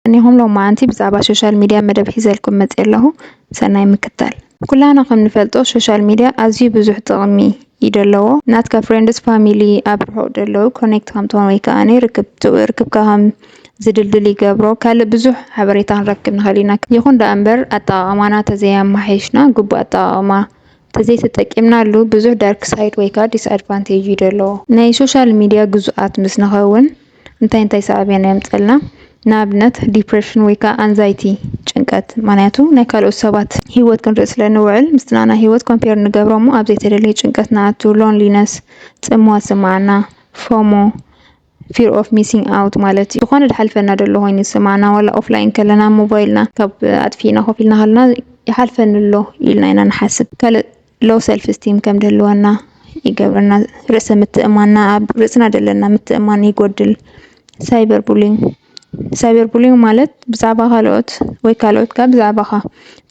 ቀኒኹም ሎማዓንቲ ብዛዕባ ሾሻል ሚድያ መደብ ሒዘልኩም መፂኤ ኣለኹ ሰናይ ምክታል። ኩላህና ከም ንፈልጦ ሾሻል ሚድያ ኣዝዩ ብዙሕ ጥቅሚ እዩ ደለዎ ናትካ ፍሬንድስ ፋሚሊ ኣብ ርሑቅ ደለዉ ኮኔክት ከም ትኾን ወይ ከኣኒ ርክብ ርክብካ ከም ዝድልድል ይገብሮ ካልእ ብዙሕ ሓበሬታ ክንረክብ ንኽእል ኢና ይኹን ደኣ እምበር ኣጠቃቅማና ተዘይ ኣማሓይሽና ግቡእ ኣጠቃቅማ ተዘይተጠቂምናሉ ብዙሕ ዳርክ ሳይድ ወይ ከኣ ዲስ ኣድቫንቴጅ ዩ ደለዎ። ናይ ሶሻል ሚድያ ግዙኣት ምስ ንኸውን እንታይ እንታይ ሳዕቤን የምጸልና ንኣብነት ዲፕረሽን ወይ ከኣ ኣንዛይቲ ጭንቀት ምክንያቱ ናይ ካልኦት ሰባት ሂወት ክንርኢ ስለ ንውዕል ምስቲ ናኣና ሂወት ኮምፔር ንገብሮ እሞ ኣብ ዘይተደለየ ጭንቀት ንኣቱ ሎንሊነስ ጽምዋ ዝስምዓና ፎሞ Fear of missing out ማለት እዩ ዝኾነ ድሓልፈና ደሎ ኮይኑ ዝስማዕና ዋላ ኦፍላይን ከለና ሞባይልና ካብ ኣጥፊእና ኮፍ ኢልና ከለና ይሓልፈኒ ኣሎ ኢልና ኢና ንሓስብ ካልእ ሎው ሰልፍ ስቲም ከም ድህልወና ይገብረና ርእሰ ምትእማንና ኣብ ርእስና ደለና ምትእማን ይጎድል ሳይበር ቡሊንግ ሳይበርቡሊንግ ማለት ብዛዕባ ካልኦት ወይ ካልኦት ከኣ ብዛዕባኻ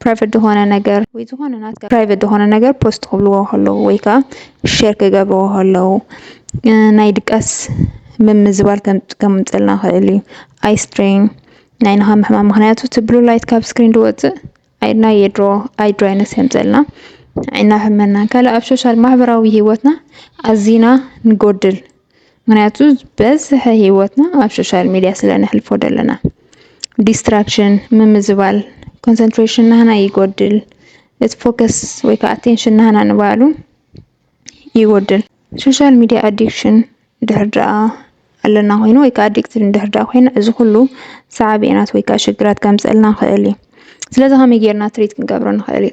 ፕራይቨት ዝኾነ ነገር ወይ ዝኾነ ናትካ ፕራይቨት ዝኾነ ነገር ፖስት ክብልዎ ከለዉ ወይ ከኣ ሸር ክገብርዎ ከለዉ ናይ ድቃስ ምምዝባል ከምጽልና ይኽእል እዩ። ኣይስትሬን ናይ ንኻ ምሕማም ምኽንያቱ እቲ ብሉ ላይት ካብ ስክሪን ዝወጽእ ናይ የድሮ ኣይድሮ ኣይነት የምፀልና እናፈመና ካል ኣብ ሶሻል ማህበራዊ ህይወትና ኣዚና ንጎድል ምክንያቱ ዝበዝሐ ህይወትና ኣብ ሶሻል ሚድያ ስለ ነሕልፎ ደለና ዲስትራክሽን ምምዝባል ኮንሰንትሬሽን ናህና ይጎድል እቲ ፎከስ ወይ ከዓ ኣቴንሽን ናህና ንባሉ ይጎድል። ሶሻል ሚድያ ኣዲክሽን እንድሕር ደኣ ኣለና ኮይኑ ወይ ከዓ ኣዲክትድ እንድሕር ደኣ ኮይና እዚ ኩሉ ሰዓቤናት ወይ ከዓ ሽግራት ከምፅእልና ይኽእል እዩ። ስለዚ ከመይ ጌርና ትሪት ክንገብሮ ንኽእል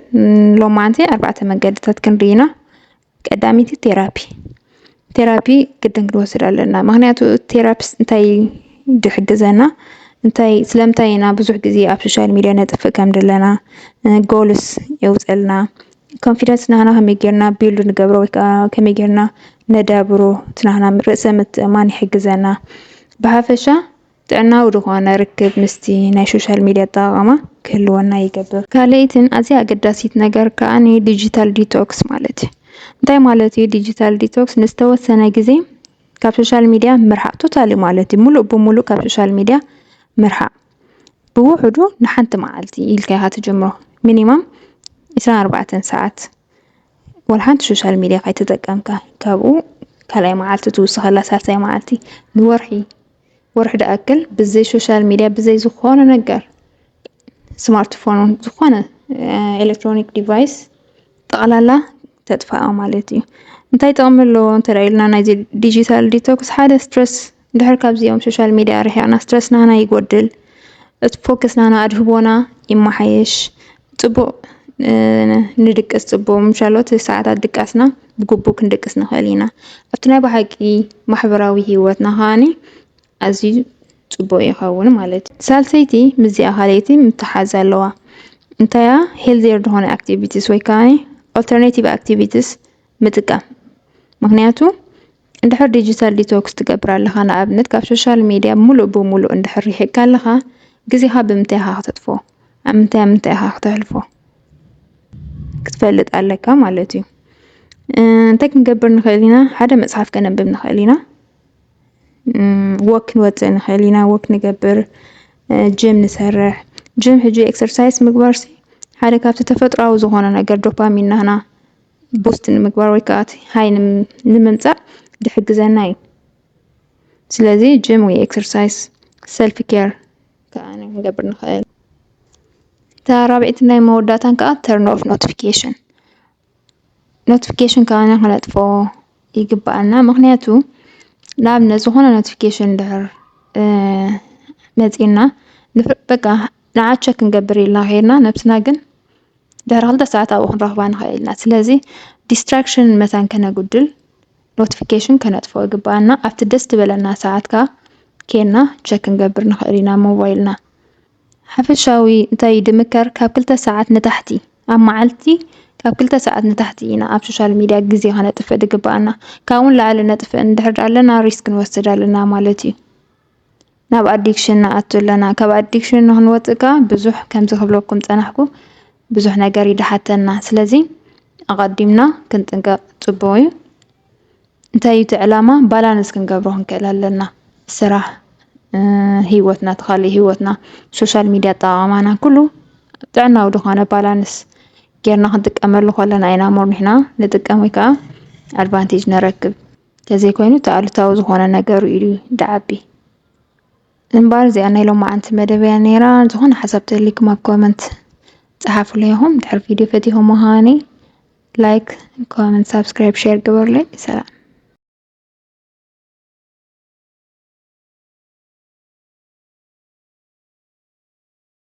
ሎማዓንቲ ኣርባዕተ መገድታት ክንርኢ ኢና። ቀዳመይቲ ቴራፒ ቴራፒ ግድን ክንወስድ ኣለና ምክንያቱ ቴራፒስ እንታይ ዝሕግዘና እንታይ ስለምንታይ ኢና ብዙሕ ግዜ ኣብ ሶሻል ሚድያ ነጥፍእ ከም ዘለና ጎልስ የውፀልና ኮንፊደንስ ናህና ከመይ ጌርና ቢልድ ንገብሮ ወይ ከዓ ከመይ ጌርና ነዳብሮ እቲ ናህና ርእሰ ምትእምማን ይሕግዘና። ብሓፈሻ ጥዕናዊ ዝኾነ ርክብ ምስቲ ናይ ሶሻል ሚድያ ኣጠቓቕማ ክህልወና ይገብር። ካልኣይትን ኣዝያ ኣገዳሲት ነገር ከዓ ዲጂታል ዲቶክስ ማለት እዩ። እንታይ ማለት እዩ ዲጂታል ዲቶክስ? ንዝተወሰነ ግዜ ካብ ሶሻል ሚድያ ምርሓቕ ቶታሊ ማለት እዩ። ሙሉእ ብሙሉእ ካብ ሶሻል ሚድያ ምርሓቕ። ብውሑዱ ንሓንቲ መዓልቲ ኢልካ ኢኻ ትጅምሮ ሚኒማም 24 ሰዓት ወላ ሓንቲ ሶሻል ሚድያ ካይተጠቀምካ ካብኡ ካልኣይ መዓልቲ ትውስኸላ ሳልሳይ መዓልቲ ንወርሒ ወርሒ ድኣክል ብዘይ ሶሻል ሚድያ ብዘይ ዝኾነ ነገር ስማርትፎን ውን ዝኾነ ኤሌክትሮኒክ ዲቫይስ ጠቕላላ ተጥፋኣ ማለት እዩ እንታይ ጥቕሚ ኣለዎ እንተ ኢልና ናይዚ ዲጂታል ዲቶክስ ሓደ ስትረስ ድሕር ካብዚኦም ሶሻል ሚድያ ኣርሒቅና ስትረስ ናህና ይጎድል እቲ ፎከስ ናህና ኣድህቦና ይማሓየሽ ፅቡቅ ንድቅስ ፅቡቅ ምሻሎ እቲ ሰዓታት ድቃስና ብግቡእ ክንድቅስ ንክእል ኢና ኣብቲ ናይ ብሓቂ ማሕበራዊ ሂወትና ከዓኒ ኣዝዩ ፅቡቅ ይኸውን ማለት እዩ ሳልሰይቲ ምስዚኣ ካልኣይቲ ምትሓዝ ኣለዋ እንታያ ሄልዚየር ዝኾነ ኣክቲቪቲስ ወይ ከዓ ኦልተርናቲቭ ኣክቲቪቲስ ምጥቃም ምክንያቱ እንድሕር ዲጂታል ዲቶክስ ትገብር ኣለኻ፣ ንኣብነት ካብ ሶሻል ሚድያ ምሉእ ብምሉእ እንድሕር ርሒቕካ ኣለኻ፣ ግዜኻ ብምንታይ ኢኻ ክተጥፍኦ? ኣብ ምንታይ ኣብ ምንታይ ኢኻ ክተሕልፎ? ክትፈልጥ ኣለካ ማለት እዩ። እንታይ ክንገብር ንኽእል ኢና? ሓደ መጽሓፍ ከነንብብ ንኽእል ኢና። ወክ ክንወፅእ ንኽእል ኢና፣ ወክ ንገብር፣ ጅም ንሰርሕ። ጅም ሕጂ ኤክሰርሳይስ ምግባርሲ ሓደ ካብቲ ተፈጥሯዊ ዝኾነ ነገር ዶፓሚን ናህና ቡስት ንምግባር ወይ ከዓ እቲ ሃይ ንምምፃእ ዝሕግዘና እዩ። ስለዚ ጅም ወይ ኤክሰርሳይስ ሰልፍ ኬር ከዓ ክንገብር ንኽእል። እታ ራብዒቲ ናይ መወዳእታን ከዓ ተርን ኦፍ ኖቲፊኬሽን ኖቲፊኬሽን ከዓና ክነጥፎ ይግባኣና። ምክንያቱ ንኣብነት ዝኾነ ኖቲፊኬሽን ድሕር መፂና በቃ ንዓ ቸክ ክንገብር ኢልና ከይድና ነብስና ግን ድሕሪ ክልተ ሰዓት ኣብኡ ክንረኽባ ንኽእል ኢና። ስለዚ ዲስትራክሽን መታን ከነጉድል ኖቲፊኬሽን ከነጥፍኦ ይግብኣና። ኣብቲ ደስ ዝበለና ሰዓት ከኣ ኬና ቸክ ክንገብር ንኽእል ኢና ሞባይልና። ሓፈሻዊ እንታይ ድምከር ካብ ክልተ ሰዓት ንታሕቲ ኣብ መዓልቲ ካብ ክልተ ሰዓት ንታሕቲ ኢና ኣብ ሶሻል ሚድያ ግዜ ከነጥፍእ ድግብኣና። ካብኡ ንላዕሊ ነጥፍእ እንድሕር ኣለና ሪስክ ንወስድ ኣለና ማለት እዩ። ናብ ኣዲክሽን ንኣቱ ኣለና ካብ ኣዲክሽን ንክንወፅእ ከዓ ብዙሕ ከምዚ ክብለኩም ፀናሕኩ ብዙሕ ነገር እዩ ድሓተና ስለዚ ኣቐዲምና ክንጥንቀቕ ፅቡቕ እዩ እንታይ እዩ እቲ ዕላማ ባላንስ ክንገብሮ ክንክእል ኣለና ስራሕ ህይወትና እቲ ካልእ ህይወትና ሶሻል ሚድያ ኣጠቓቕማና ኩሉ ጥዕናዊ ዝኾነ ባላንስ ጌርና ክንጥቀመሉ ከለና ኢና ሞር ንሕና ንጥቀም ወይ ከዓ ኣድቫንቴጅ ንረክብ ተዘይኮይኑ እቲ ኣሉታዊ ዝኾነ ነገሩ እዩ ድዓቢ። እምበኣር እዚኣ ናይ ሎማዓንቲ መደብ እያ ነይራ። ዝኾነ ሓሳብ ተልይኩም ኣብ ኮመንት ጸሓፉለይ ኢኹም። ድሕሪ ቪድዮ ፈቲኹም ምዃኒ ላይክ፣ ኮመንት፣ ሳብስክራይብ፣ ሼር ግበሩለይ። ሰላም።